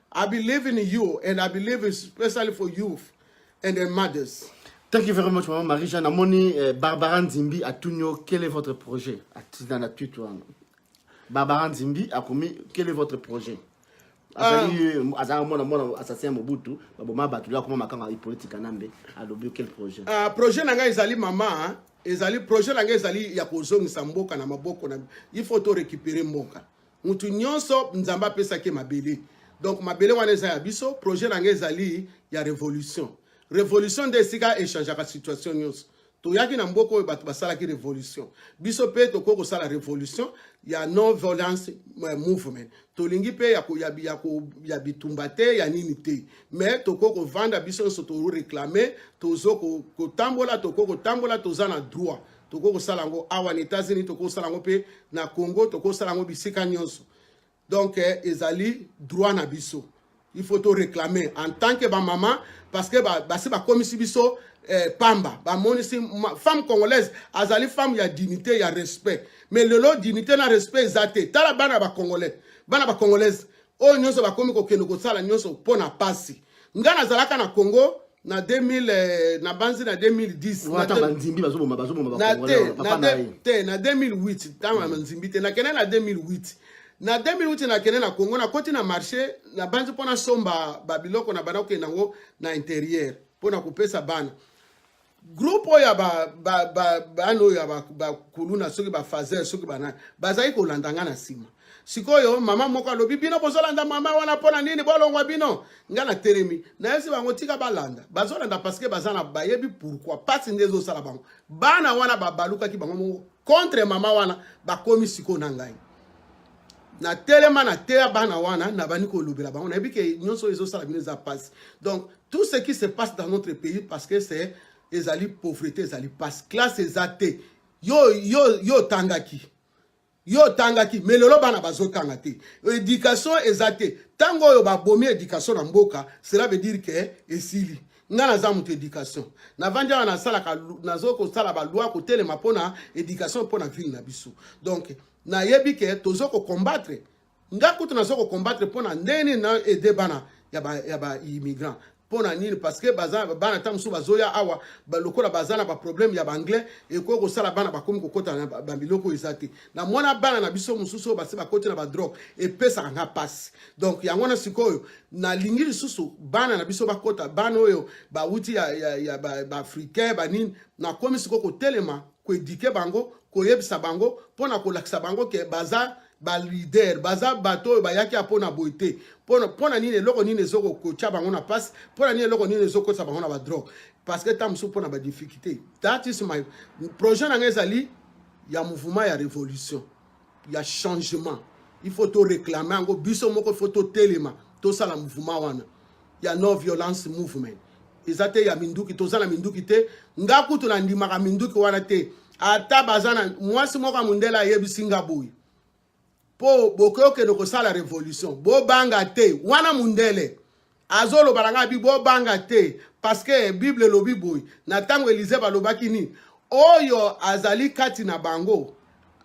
I believe in you and I believe especially for youth and their mothers. Thank you very much, Maman Marie Jeanne. Amoni eh, Barbara Nzimbi à Tunio, quel est votre projet Dans la tweet, Barbara Nzimbi a commis, quel est votre projet azali um, azalaka mwana mwana assassin ya mobutu baboma bato lya koma makanga ipoliti kanambe alobi quel projet uh, projet na ngai ezali mama ezali projet na ngai ezali ya kozongisa mboka na maboko na il faut to récupérer mboka mutu nyonso nzambe apesaki mabele donc mabele wana eza ya biso projet na ngai ezali ya révolution révolution nde esika echangeaka situation nyonso toyaki na mboka oyo bato basalaki révolution biso mpe tokoki kosala révolution ya non violence eh, movement tolingi mpe ya, ya, ya, ya bitumba te ya nini te mais tokoki kovanda biso nyonso toreklame tozo kotambola tokoki kotambola toza na droit tokoki kosala yango awa na états-unis tokoki kosala yango mpe na congo tokoki kosala yango bisika nyonso donc eh, ezali droit na biso il faut toréclame en tant que bamama parce que basi bakomisi biso eh, pamba bamonisi femme congolaise azali femme ya dignité ya respect mais lelo dignité na respect eza te tala bana bacongolais bana bacongolaise oyo nyonso bakomi kokende kosala nyonso mpo na pasi ngai nazalaka na congo na 2000 eh, na banzi na 2010te na 2008 ntango na nzimbi te nakende na 2008 na 2008 nakende na congo nakoti na marché na banzi mpo nasomba babiloko na bana kokende yango na interieur mpo na kopesa bana groupe oyo ya bana oyo ya bakuluna soki bafazer soki banani bazali kolanda ngai na nsima sikoyo mama moko alobi bino bozolanda mama wana mpo na nini bolongwa bino ngai natelemi nayebisi bango tika balanda bazolanda parceke baza na bayebi pourkui mpasi nde ezosala bango bana wana babalukaki bango moko contre mama wana bakomi sikoyo na ngai na telema na teya bana wana na bani kolobela bango nayebi ke nyonso oyo ezosala bino eza mpasi donc tout ce qui se passe dans notre pays parce que c'est ezali pauvreté ezali mpasi classe eza te yo yo yo otangaki yo otangaki me lelo bana bazotanga te éducation eza te ntango oyo babomi éducation na mboka cela veut dire ke esili nga naza moto éducation navandi awa nasalaka nazo kosala baloi kotelema mpona éducation mpona ville na biso donc nayebi ke tozo ko combattre nga kutu nazo ko combattre mpo na ndenge nini na aide bana ya ba, ya ba immigrant mpo na nini parce que baza bana ntango mosusu bazoya awa ba, lokola baza na baproblème ya baanglais ekoki kosala bana bakomi kokota na babiloko eza te na mwana bana na biso mosusu oyo basi bakoti na badrogue epesaka nga mpasi donc yango wana sikoyo nalingi lisusu bana na biso bakota bana oyo bawuti ya, ya, ya baafricain ba banini nakomi sikoyo kotelema koedike bango koyebisa bango mpo na kolakisa bango ke baza balider baza bato oyo bayaki ya mpo na boye te mpo na nini eloko nini ezokotya bango na mpasi mpo na nini eloko nini ezokotisa bango na badrogue parce que ntango mosusu mpo na badifficulté that is my projet na ngai ezali ya mouvement ya révolution ya changement il faut toreklame yango biso moko il faut totelema tosala mouvement wana ya no violence movement eza te ya minduki toza na minduki te nga kutu nandimaka minduki wana te ata baza na mwasi moko ya mondele ayebisi nga boye mpo bokoki okende kosala revolution bobanga te wana mondele azoloba na ngai bi bobanga te parceke bible elobi boye na ntango elize balobaki nini oyo azali kati na bango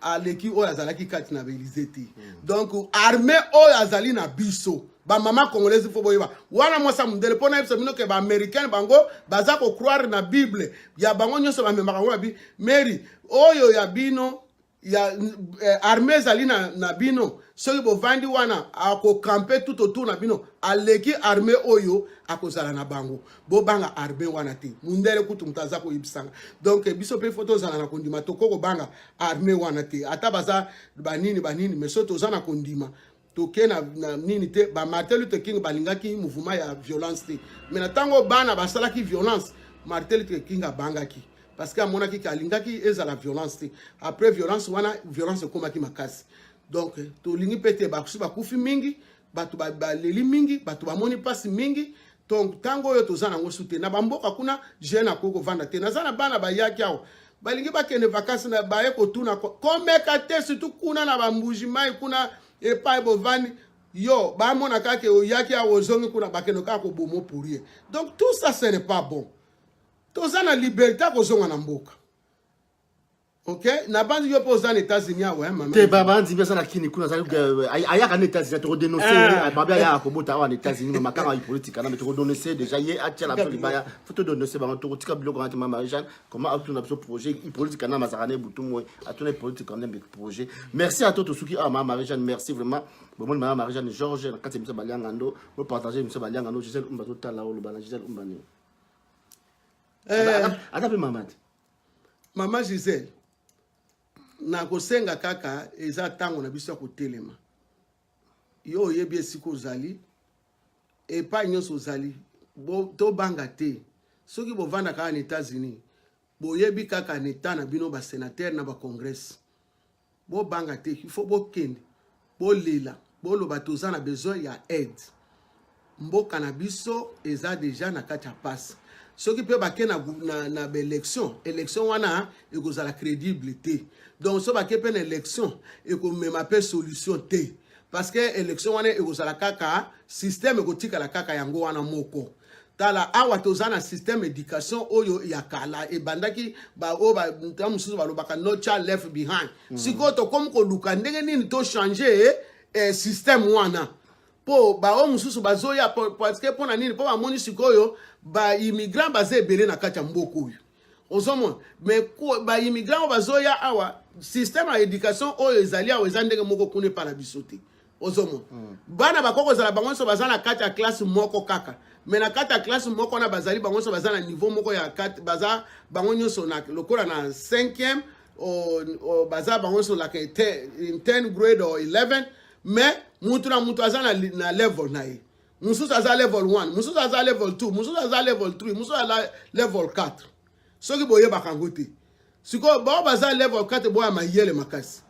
aleki oyo azalaki kati na baelize te hmm. donc arme oyo azali na biso bamama congolaise fo boyeba wana mwasi ya mondele mpo nayebisa bino ke baaméricaine bango baza kocroire na bible ya bango nyonso bamemaka yango na bi mary oyo ya bino ya eh, arme ezali na, na bino soki bovandi wana akokampe tout autour na bino aleki arme oyo akozala na bango bobanga arbe wana te mundele kutu moto aza koyebisanga donc biso mpe fo tozala na kondima tokoki kobanga arme wana te ata baza banini banini mais so toza na kondima toke na, na nini te ba martin luther king balingaki mouvement ya violence te mais na ntango bana basalaki violence martin luther king abangaki parce que amonaki ke alingaki ezala violence te après violence wana violence ekomaki makasi donc tolingi mpe te bakusi bakufi mingi bato baleli ba mingi bato bamoni mpasi mingi donc ntango oyo toza nango su te na bamboka kuna jeune akoki kovanda te naza na bana bayaki awa balingi bakende vakansi na baye kotuna komeka te surtout kuna na bambuji mai kuna epai bovandi yo bamona kaka oyaki awa ozongi kuna bakende kaka kobomo pour ye donc tout ça ce n'est pas bon toza na liberté akozonga na mboka Ok, nabanzi yo mpe oza na États-Unis awa hein, maman. Te babanzi mpe aza na Kini kuna azali euh, ayaka na États-Unis toko dénoncer ah. babe ayaka kobota awa na États-Unis mais makanga ya politique na mais toko dénoncer déjà ye atia na biso libaya faut to dénoncer bango toko tika biloko na te mama Jeanne comment atuna biso projet politique na mazaka na butu moy atuna politique na mbe projet merci à toi to suki ah mama Jeanne merci vraiment bomoni mama Marie Jeanne Georges na kati misa balianga ndo bo partager misa balianga ndo Gisèle Umba to tala oloba na Gisèle Umba ni eh. ata mpe mama te mama gisele nakosenga kaka eza ntango na biso ya kotelema yo oyebi esika ozali epai nyonso ozali tobanga te soki bovandaka kaka na états-unis boyebi kaka na eta na bino basenatere na bacongrese bobanga te il faut bokende bolela boloba toza na besoin ya aide mboka na biso eza deja na kati ya pasi soki mpe bake na, na, na baélection élection wana ekozala crédible te donc so bake mpe na élection ekomema mpe solution te parce que élection wana ekozala kaka système ekotikala kaka yango wana moko tala awa toza na système éducation oyo ya kala ebandaki baoyo banta mosusu balobaka no child left behind mm. sikoyo tokomi koluka ndenge nini tochange eh, système wana mpo baoyo mosusu bazoya parceke mpo na nini mpo bamoni sikoyo baimmigrant baza ebele na kati ya mboka oyo ozomona me baimmigrant oyo bazoya awa système ya éducation oyo ezali awa eza ndenge moko kuna epa na biso te ozomona mm. bana bakoki kozala bango nyonso baza na kati ya classe moko kaka me na kati ya classe moko wana bazali bango nyonso baza na niveau moko ya kati baza bango nyonso na lokola na 5e baza bango nyonso laka 10 grade or 11 mais mutu na mutu aza na, na level na ye mosusu aza level 1 mosusu aza level 2 mosusu aza level 3 mosusu aza level 4 soki boyebaka yango te sikoyo bao baza level 4 boya mayele makasi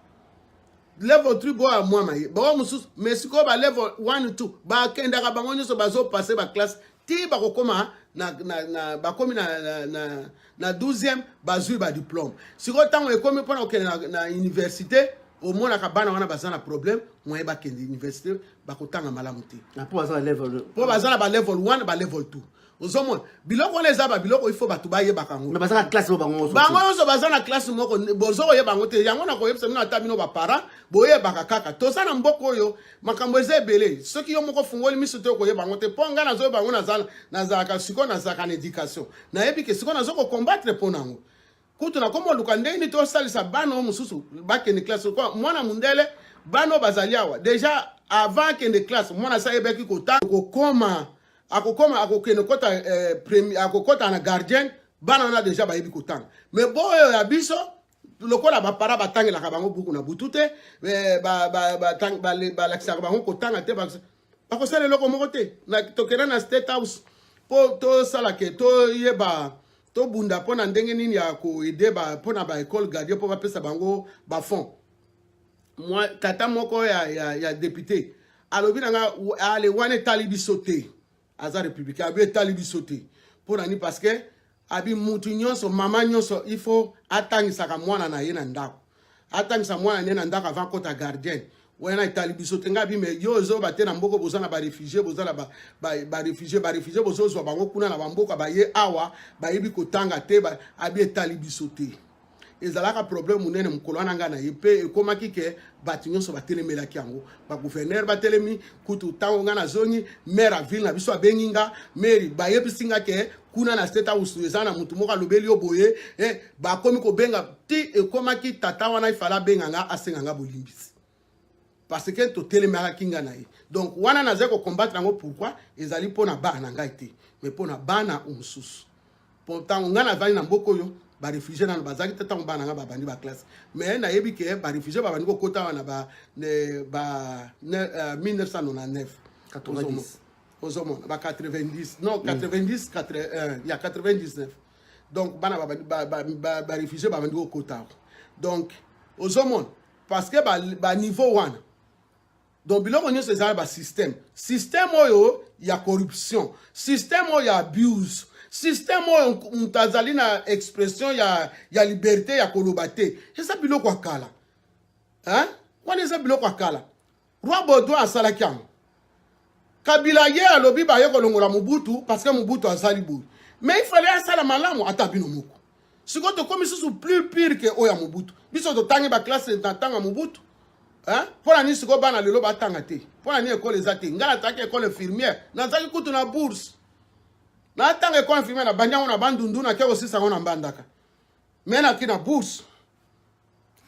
level 3 boya mwa maye bao mosusu mais sikoyo ba level 1 2 bakendaka bango nyonso bazopase baklasse ti bakokoma na, na, na, bakomi na, na, na, na 12e bazwi ba diplome sikoyo ntango ekomi mpona kokende na, na université omonaka bana wana baza na problème moyen bakende université bakotanga malamu te ah, mpo baza na ba level 1 ba level 2 ozomona biloko wana eza babiloko ifo bato bayebaka yango bango nyonso baza na classe moko bozo koyeba yango te yango nakoyebisa bino ata bino baparent boyebaka kaka toza na mboka oyo makambo eza ebele soki yo moko ofungoli miso te okoyeba yango te mpo ngai nazoyeba yango nazalaka sikoyo nazalaka na éducation nayebi ke sikoyo nazo kokombatre mpo na yango kutu nakomi oluka ndenge nini tosalisa bana oyo mosusu bakende classe kwa mwana mondele bana oyo bazali awa deja avant akende classe mwana asi ayebaki kotanga kokoma akokoma akokende kota eh, premier akokota na gardien bana wana deja bayebi kotanga me boyo ya biso lokola bapara batangelaka bango buku na butu te eh, balakisaka bango kotanga te bakosala eloko moko te tokenda na state house mpo tosala ke toyeba tobunda mpo na ndenge nini ya koede mpo na baekole gardien mpo bapesa bango bafond tata moko ya, ya, ya depute alobi na nga ale wana etali biso te aza républicain abi etali biso te mpo na nini parce que abi mutu nyonso mama nyonso il faut atangisaka mwana na ye na ndako atangisa mwana ne na ndako avant akota gardienne wana etali biso te ngai bime yo ozoba te na mboka boza na barefugie boza na barefugie barefugie bozozwa bango kuna na bamboka baye awa bayebi kotanga te abi etali biso te ezalaka problème monene mokolo wana ngai na ye mpe ekomaki ke bato nyonso batelemelaki yango bagouverneur batelemi kutu ntango ngai nazongi maire ya ville na biso abengi nga mari bayebisi nga ke kuna na state house eza na motu moko alobeli yo boye eh, bakomi kobenga ti ekomaki tata wana ifala abenga nga asenga nga bolimbisi parce que totelemelaki ngai na ye donc wana nazali kokombatre yango pourkui ezali mpo na bana na ngai te mais mpo na bana o mosusu mpo ntango ngai nazali na mboka oyo barefugie nano bazalaki te ntango bana ngai babandi baklasse mais nayebi ke barefugie babandi kokota wana ba 1999 ozomona ba 90 non 90 euh, ya 99 donc bana barefugie babandi kokota donc ozomona parce que ba, ba niveau wana donc biloko nyonso eza na ba système système oyo ya corruption système oyo ya abuse système oyo moto azali na expression ya, ya liberté ya koloba te eza biloko ya kala hein? wana eza biloko ya kala Roi Baudouin asalaki yango. Kabila ye alobi baye kolongola Mobutu parce que Mobutu azali boye. Mais il fallait asala malamu ata bino moko. Sikoyo tokomi susu plus pire que oyo ya Mobutu. Biso totangi ba classe na tanga Mobutu. Hein? Mpo na nini sikoyo bana lelo batanga te? Mpo na nini ekole eza te? Ngai natangaki ekole infirmière, nazalaki kutu na bourse. Natanga ekole infirmière na banyango na bandundu na keko sisa ngo na mbandaka. Mais naki na bourse.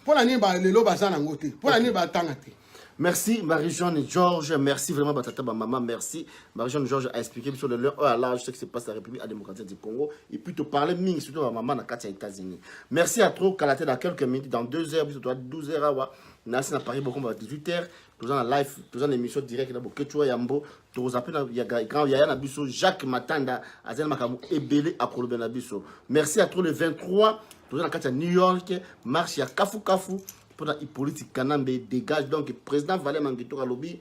mpo na nini balelo baza nango te mpo na nini batanga te Merci Marie-Jeanne Georges, merci vraiment Batata Maman, merci. Marie-Jeanne Georges a expliqué sur le lieu oh à large ce qui se passe à la République à démocratique du Congo et puis te parler ming surtout à maman na Katia États-Unis. Merci à trop Kalaté dans quelques minutes dans 2 heures, biso 12 heures awa, nasi na Paris beaucoup 18 heures. toza na live toza na émission direct na boketsua yambo toza mpe na ya grand yaya na biso jacques matanda azali na makambo ebele akoloba na biso merci à trop le 23 toza na kati ya new york marche ya kafukafu mpo na hippolyte kanambe dégage donc président valé mangetok alobi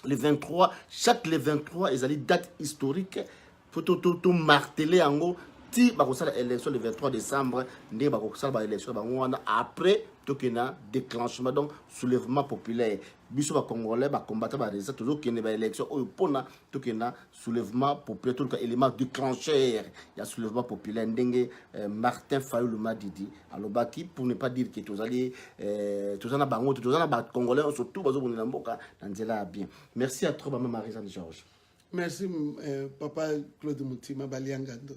le 23 chaque le 23 ezali date historique faut to to to marteler yango ti bakosala élection le 23 décembre ndenge bakosala ba élection bango wana après tokende na déclenchement donc soulèvement populaire biso bacongolais bacombata barésistant tozokende baélection oyo mpona tokende na soulèvement populaire toluka élément déclencheur ya soulèvement populaire ndenge euh, martin fayulu madidi alobaki pour ne pas dire ke tozali euh, toza na bango te toza na bacongolais nyonso tout bazobundela mboka na nzela ya bien merci à trop bama marie jeanne georges Merci, euh, papa Claude Moutima, Baliangando.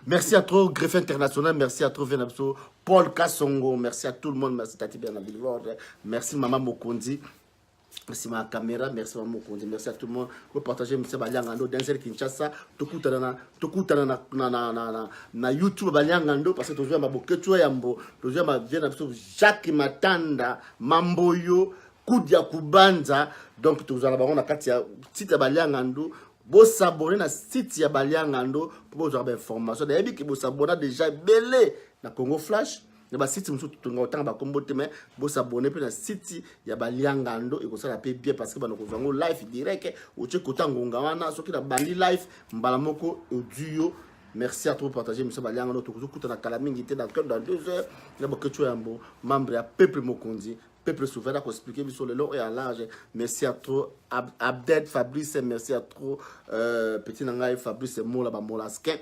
Merci à trop, Greffe International. Merci à trop, Venapso. Paul Kassongo. Merci à tout le monde. Merci, Tati Bernard Billboard. Merci, Maman Mokondi. Merci ma caméra, merci ma mokonzi, merci à tout le monde. Vous partagez monsieur Baliangando, Denzel Kinshasa, tokutana na tokutana na na na na na, na YouTube Baliangando parce que tozwa ma boketswa yambo, tozwa ma bien na biso Jacques Matanda, Mamboyo, kudia kubanza donc tozala bango na kati ya site ya baliangandu bosabone na site ya baliangandu mpo bozwaka bainformation nayebi ke bosabona deja ebele na congo flash na basite mosusu totonga kotanga bakombo te mai bosabone mpe na site ya baliangando ekosala mpe bien parce que bana kozwa yango life direct otie kota ngonga wana soki na bandi life mbala moko odi yo merci à trop partager monsieur baliangando tokoki kokutana kala mingi te dans dans deux heures na boketio yambo membre ya peuple mokonzi Peuple souverain a expliqué biso lelo et à large. Merci à trop Ab Abded Fabrice, merci à trop euh, petit nangai Fabrice Mola ba Molasquin.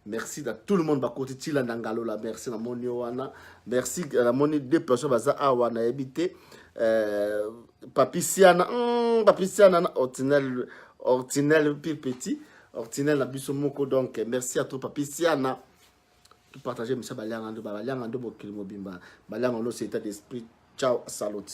Merci à tout le monde ba côté Tila Nangalola, merci na moni wana. Merci à la moni deux personnes baza awa na habité euh Papiciana, hmm, Papiciana na Ortinel Ortinel pire petit, Ortinel na biso moko donc merci à trop Papiciana. to partager misa balianga ndo balianga ndo mokili mobimba balianga ndo c'est état d'esprit ciao salute